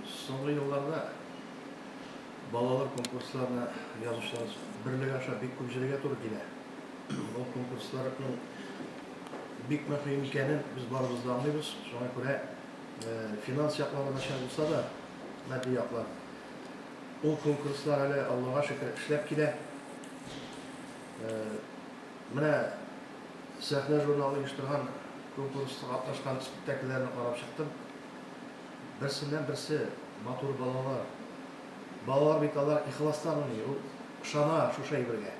Соңгы елларда балалар конкурсларына язучылар берлеге аша бик күп җөрергә туры килә. Бу конкурсларның бик мөһим икәнен без барыбыз да аңлыйбыз. Шуңа күрә финанс яклары начар булса да, матди яклар, ул конкурслар әле, Аллага шөкер, эшләп килә. Менә. Сәхнә журналы оештырган конкурста катнашкан спектакльләрне карап чыктым. Берсеннән-берсе матур балалар. Балалар бит алар ихластан уйный, ул ышана шушы әйбергә.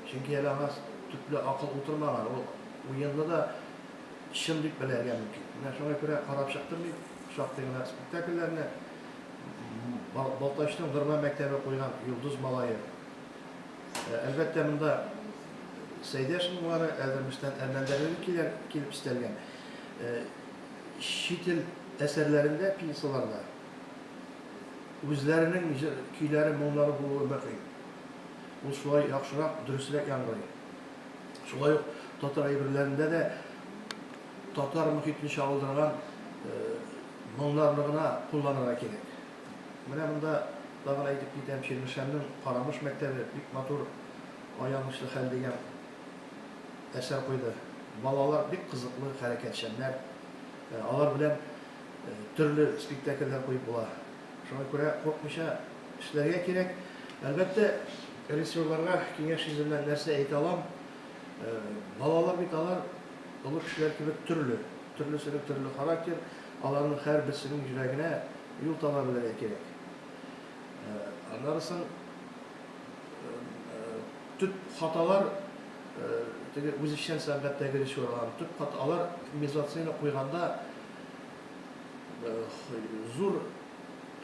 Чөнки әле аңа төпле акыл утырмаган, ул уенны да чын дип белергә мөмкин. Менә шуңа күрә карап чыктым мин шактый гына спектакльләрне. Балтачның Нормай мәктәбе куйган Йолдыз малае. Әлбәттә, монда Сәйдә шымлары, Әлдермештән Әлмәндәрлеге килә, килеп истәлгән. Чит ил әсәрләрендә, пьесаларда үзләренең җыр, көйләре, моңнары булуы мөһим. Ул шулай яхшырак, дөресрәк яңгырый. Шулай ук татар әйберләрендә дә татар мөхитен чагылдырган моңнарны гына кулланырга кирәк. Менә монда тагын әйтеп китәм, Чирмешәннең Карамыш мәктәбе бик матур Аянычлы хәл дигән әсәр куйды. Балалар бик кызыклы, хәрәкәтчәннәр. Алар белән төрле спектакльләр куеп була. Шуңа күрә куркмыйча эшләргә кирәк. Әлбәттә, режиссерларга киңәш йөзеннән нәрсә әйтә алам, балалар бит алар олы кешеләр кебек төрле, төрлесенең төрле характер. Аларның һәрберсенең йөрәгенә юл таба белергә кирәк. Аннары соң төп хаталар теге үзешчән сәнгатьтәге режиссерларның төп хата алар мизансцена куйганда зур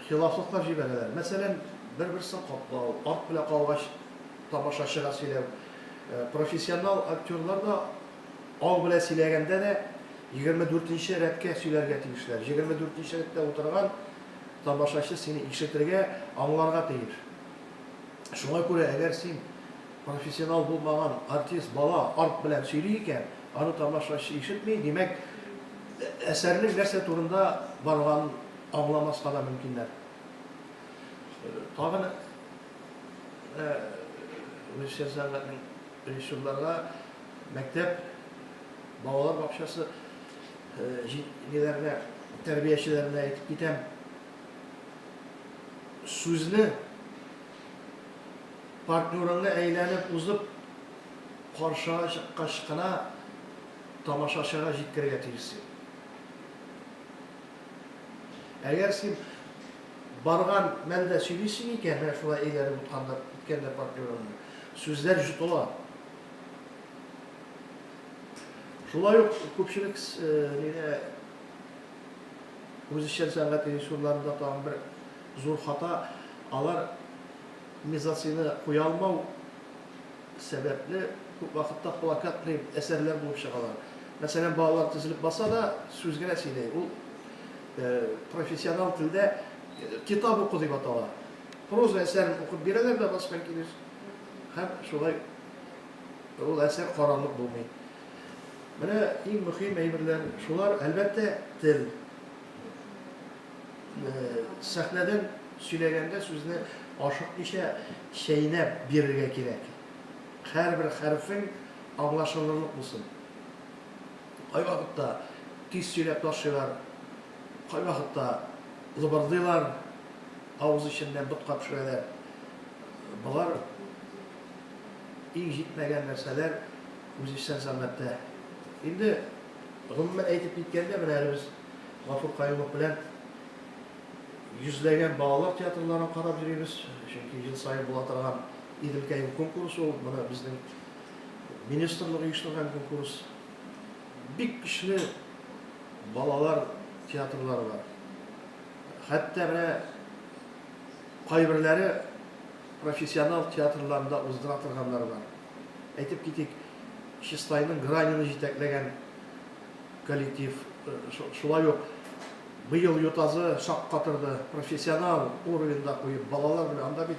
хилафлыклар җибәрәләр. Мәсәлән, бер-берсен каплау, арт белән калгач тамашачыга сөйләү. Профессионал актерлар да Аң белән сөйләгәндә дә, егерме дүртенче рәткә сөйләргә тиешләр. Егерме дүртенче рәттә утырган тамашачы сине ишетергә, аңларга тиеш. Шуңа күрә, әгәр син профессионал булмаган артист, бала арт белән сөйли икән, аны тамашачы ишетми, димәк, әсәрнең нәрсә турында барганын аңламаска да мөмкиннәр. Тагын үзешчән сәнгатьнең режиссерларга Мәктәп, балалар бакчасы җитәкчеләренә, тәрбиячеләренә әйтеп китәм, сүзне партнерыңны әйләнеп узып, каршыга чыккач кына тамашачыга җиткерергә тиешсең. Әгәр син барган мәлдә сөйлисең икән, менә шулай әйләнеп үткәндә партнерыңны, сүзләр җотыла. Шулай ук күпчелек нидә үзешчән сәнгать режиссерларында тагын бер зур хата, алар мизансцена куя алмау сәбәпле, күп вакытта плакатный әсәрләр булып чыгалар. Мәсәлән, балалар тезелеп баса да, сүз генә сөйләй. Ул профессионал телдә китап уку дип атала. Проза әсәрен укып бирәләр дә баскан килеш һәм шулай Ул әсәр карарлык булмый. Менә иң мөһим әйберләр шулар, әлбәттә, тел. Сәхнәдән сөйләгәндә сүзне ашыкмыйча чәйнәп бирергә кирәк. Һәрбер хәрефең аңлашылырлык булсын. Кайвакытта тиз сөйләп ташыйлар, кайвакытта лыбырдыйлар, авыз эченнән ботка пешерәләр. Болар Иң җитмәгән нәрсәләр үзешчән сәнгатьтә. Инде гомумән әйтеп киткәндә, менә әле без Гафур Каюмов белән йөзләгән балалар театрларын карап йөрибез, чөнки ел саен була торган Иделкәем конкурсы ул, моны безнең министрлык оештырган конкурс. Бик көчле балалар театрлары бар. Хәтта менә кайберләре профессионал театрларында уздыра торганнары бар. Әйтеп китик, Чистайның Гранины җитәкләгән коллектив, шулай ук быел Ютазы шаккатырды, профессионал уровеньда куеп, балалар белән, анда бит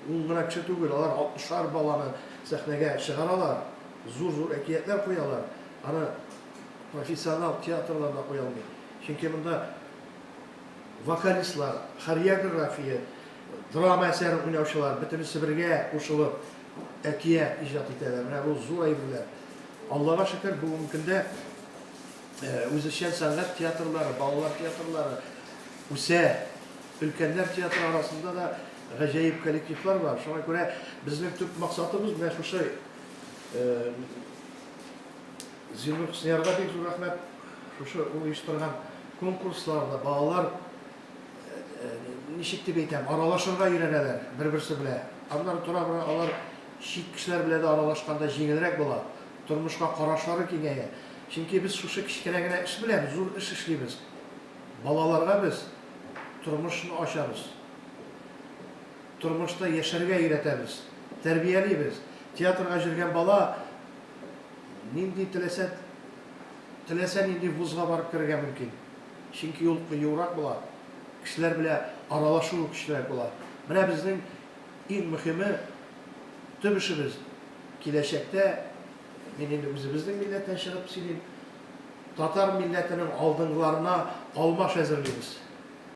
ун гына кеше түгел, алар 60 баланы сәхнәгә чыгаралар, зур-зур әкиятләр куялар. Аны профессионал театрларда куя алмый. Чөнки монда вокалистлар, хореография, Драма әсәре уйнаучылар бөтенесе бергә кушылып әкият иҗат итәләр. Менә бу зур әйберләр. Аллага шөкер, бүгенге көндә үзешчән сәнгать театрлары, балалар театрлары үсә. Өлкәннәр театры арасында да гаҗәеп коллективлар бар. Шуңа күрә безнең төп максатыбыз менә шушы Зиннур Хөсниярга бик зур рәхмәт. Шушы ул оештырган конкурсларда балалар ничек дип әйтәм, аралашырга өйрәнәләр бер-берсе белә. Аннары тора-бара алар чит кешеләр белә дә аралашканда җиңелрәк була, тормышка карашлары киңәя. Чөнки без шушы кечкенә генә эш белән зур эш эшлибез. Балаларга без тормышны ачабыз. Тормышта яшәргә өйрәтәбез, тәрбиялибез. Театрга җөргән бала нинди теләсә теләсә нинди вузга барып керергә мөмкин. Чөнки ул кыюрак була, кешеләр белә аралашуы көчлерәк була. Менә безнең иң мөхиме, төп эшебез, киләчәктә, мин инде үзебезнең милләттән чыгып сөйлим, татар милләтенең алдынгыларына алмаш әзерлибез.